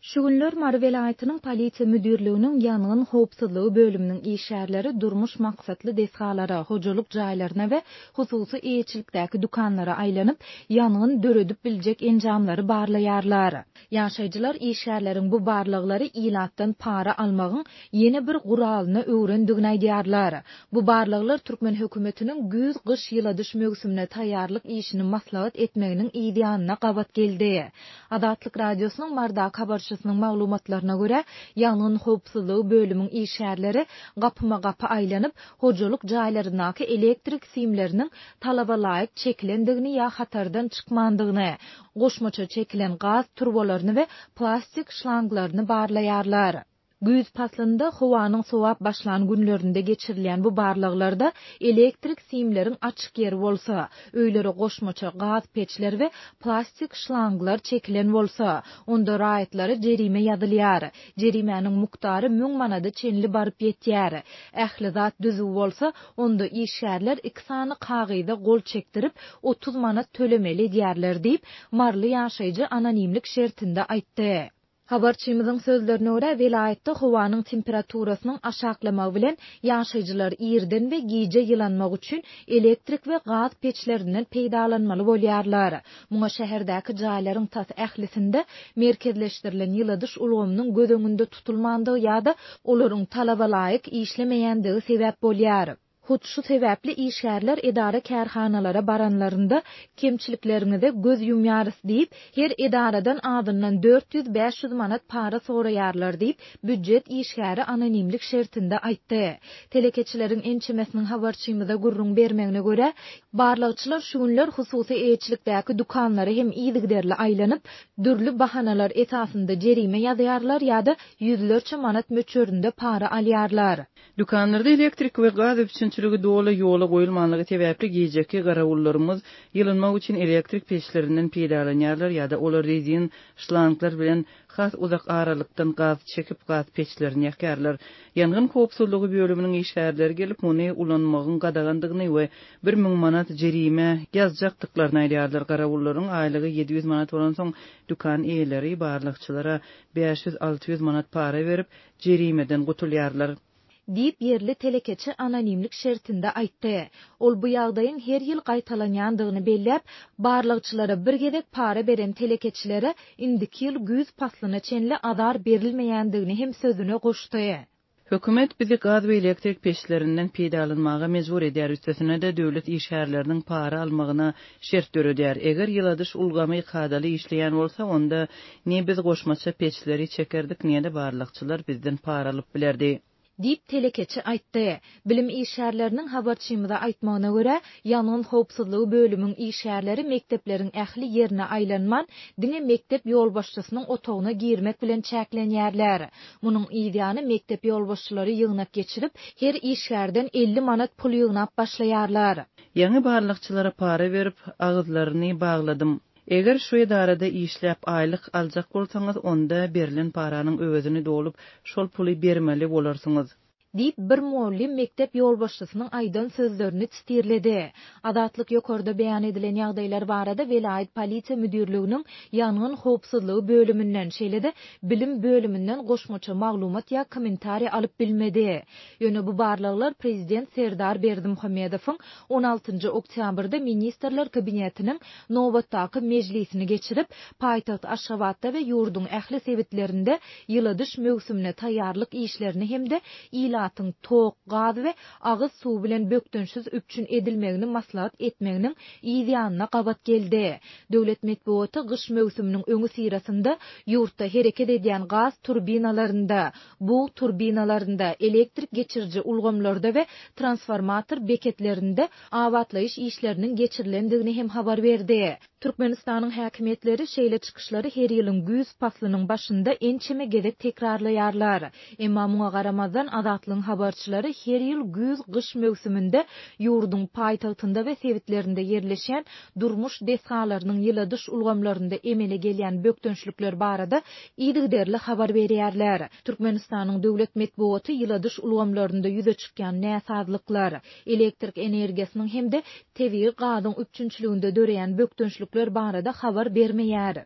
Şu günler Mary welaýatynyň Polisiýa müdirliginiň ýangyn howpsuzlygy bölüminiň işgärleri durmuş maksatly desgalara, hojalyk jaýlaryna we hususy eýeçilikdäki dükanlara aýlanyp, ýangyn döredip biljek enjamlary barlaýarlar. Ýaşaýjylar işgärleriň bu barlaglary ilatdan para almagyň ýene bir guralyna öwrendigini aýdýarlar. Bu barlaglar türkmen hökümetiniň güýz-gyş ýyladyş möwsümine taýýarlyk işini maslahat etmeginiň yzýanyna gabat geldi. Azatlyk Radiosynyň Mardak habarçysynyň maglumatlaryna görä, ýangyn howpsuzlygy bölümiň işgärleri gapyma-gapy aýlanyp, hojalyk jaýlaryndaky elektrik simleriniň talabalaýyk çekilendigini ýa hatardan çykmandygyny, goşmaça çekilen gaz turbalaryny we plastik şlanglaryny barlaýarlar. Güýz paslynda howanyň sowap başlan günlerinde geçirilýän bu barlaglarda elektrik simleriň açyk ýeri bolsa, öýlere goşmaça gaz peçler we plastik şlanglar çekilen bolsa, onda raýatlara jerime ýazylýar. Jerimäniň mukdary müň manada çenli baryp ýetýär. Ähli zat düzüw bolsa, onda işgärler iki sany kagyza gol çekdirip, otuz manat tölemeli edýärler diýip, maryly ýaşaýjy anonimlik şertinde aýtdy. Habarçymyzyň sözlerine görä, welaýatda howanyň temperaturasynyň aşaklamagy bilen, ýaşaýjylar irden we gije ýylanmak üçin elektrik we gaz peçlerinden peýdalanmaly bolýarlar. Muňa şäherdäki jaýlaryň tas ählisinde merkezleşdirilen ýyladyş ulgamynyň göz öňünde tutulmandygy ýa-da olaryň talabalaýyk işlemeýändigi sebäp bolýar. Hut şu sebäpli işgärler edara-kärhanalara baranlarynda, Kemçilikleriňize göz ýumýarys diýip, her edaradan azyndan dört ýüz, bäş ýüz manat para soraýarlar diýip, býujet işgäri anonimlik şertinde aýtdy. Telekeçileriň ençemesiniň habarçymyza gürrüň bermegine görä, barlagçylar şu günler hususy eýeçilikdäki dükanlara hem yzygiderli aýlanyp, dürli bahanalar esasynda jerime ýazýarlar ýa-da ýüzlerçe manat möçberinde para alýarlar. Dükanlarda elektrik we gaz üpjünçiligi doly ýola goýulmanlygy sebäpli gijeki garawullarymyz ýylynmak üçin elektrik peçlerinden peýdalanýarlar ýa-da olar rezin şlanglar bilen has uzak aralykdan gaz çekip gaz peçlerini ýakýarlar. Ýangyn howpsuzlygy bölüminiň işgärleri gelip muny ulanmagyň gadagandygyny we bir müň manat jerime ýazjakdyklaryny aýdýarlar. Garawullaryň aýlygy ýedi ýüz manat bolansoň dükan eýeleri barlagçylara bäş ýüz-alty ýüz manat para berip jerimeden gutulýarlar. Diýip, ýerli telekeçi anonimlik şertinde aýtdy. Ol bu ýagdaýyň her ýyl gaýtalanýandygyny belläp, barlagçylara bir gezek para beren telekeçilere indiki ýyl güýz paslyna çenli azar berilmeýändigini hem sözüne goşdy. Hökümet bizi gaz we elektrik peçlerinden peýdalanmaga mejbur edýär, üstesine-de döwlet işgärleriniň para almagyna şert döredýär. Eger ýyladyş ulgamy kadaly işleýän bolsa, onda Ne biz goşmaça peçleri çekerdik, ne-de barlagçylar bizden para alyp bilerdi. Diýip, telekeçi aýtdy. Bilim işgärleriniň habarçymyza aýtmagyna görä, ýangyn howpsuzlygy bölümiň işgärleri mekdepleriň ähli ýerine aýlanman, diňe mekdep ýolbaşçysynyň otagyna girmek bilen çäklenýärler. Munuň yz ýany mekdep ýolbaşçylary ýygnak geçirip, her işgärden elli manat pul ýygnap başlaýarlar. Ýaňy barlagçylara para berip, agyzlaryny bagladym. Eger şu edarada işläp aýlyk aljak bolsaňyz, onda berlen paranyň öwezini dolup, şol puly bermeli bolarsyňyz. Diýip, bir mugallym mekdep ýolbaşçysynyň aýdan sözlerini çtirledi. Azatlyk ýokarda beýan edilen ýagdaýlar barada welaýat polisiýa müdirliginiň ýangyn howpsuzlygy bölüminden, şeýle-de bilim bölüminden goşmaça maglumat ýa kommentariý alyp bilmedi. Ýöne bu barlaglar prezident Serdar Berdimuhamedowyň on altynjy oktýabrda Ministrler Kabinetiniň nobatdaky mejlisini geçirip, paýtagt Aşgabatda we ýurduň ähli sebitlerinde ýyladyş möwsümine taýýarlyk işlerini hem-de ilatyň tok, gaz we agyz suwy bilen bökdençsiz üpjün edilmegini maslahat etmeginiň yz ýanyna gabat geldi. Döwlet metbugaty gyş möwsüminiň öňüsyrasynda ýurtda hereket edýän gaz turbinalarynda, bug turbinalarynda, elektrik geçiriji ulgamlarda we transformator beketlerinde abatlaýyş işleriniň geçirilendigini hem habar berdi. Türkmenistanyň häkimiýetleri şeýle çykyşlary her ýylyň güýz paslynyň başynda ençeme gezek tekrarlaýarlar. Emma muňa garamazdan, Azatlygyň habarçylary her ýyl güýz-gyş möwsüminde ýurduň paýtagtynda we sebitlerinde ýerleşýän durmuş desgalarynyň ýyladyş ulgamlarynda emele gelýän bökdençlikler barada yzygiderli habar berýärler. Türkmenistanyň döwlet metbugaty ýyladyş ulgamlarynda ýüze çykýan näsazlyklar, elektrik energiýasynyň hem-de tebigy gazyň üpjünçiliginde döreýän bökdençlikler barada habar bermeýär.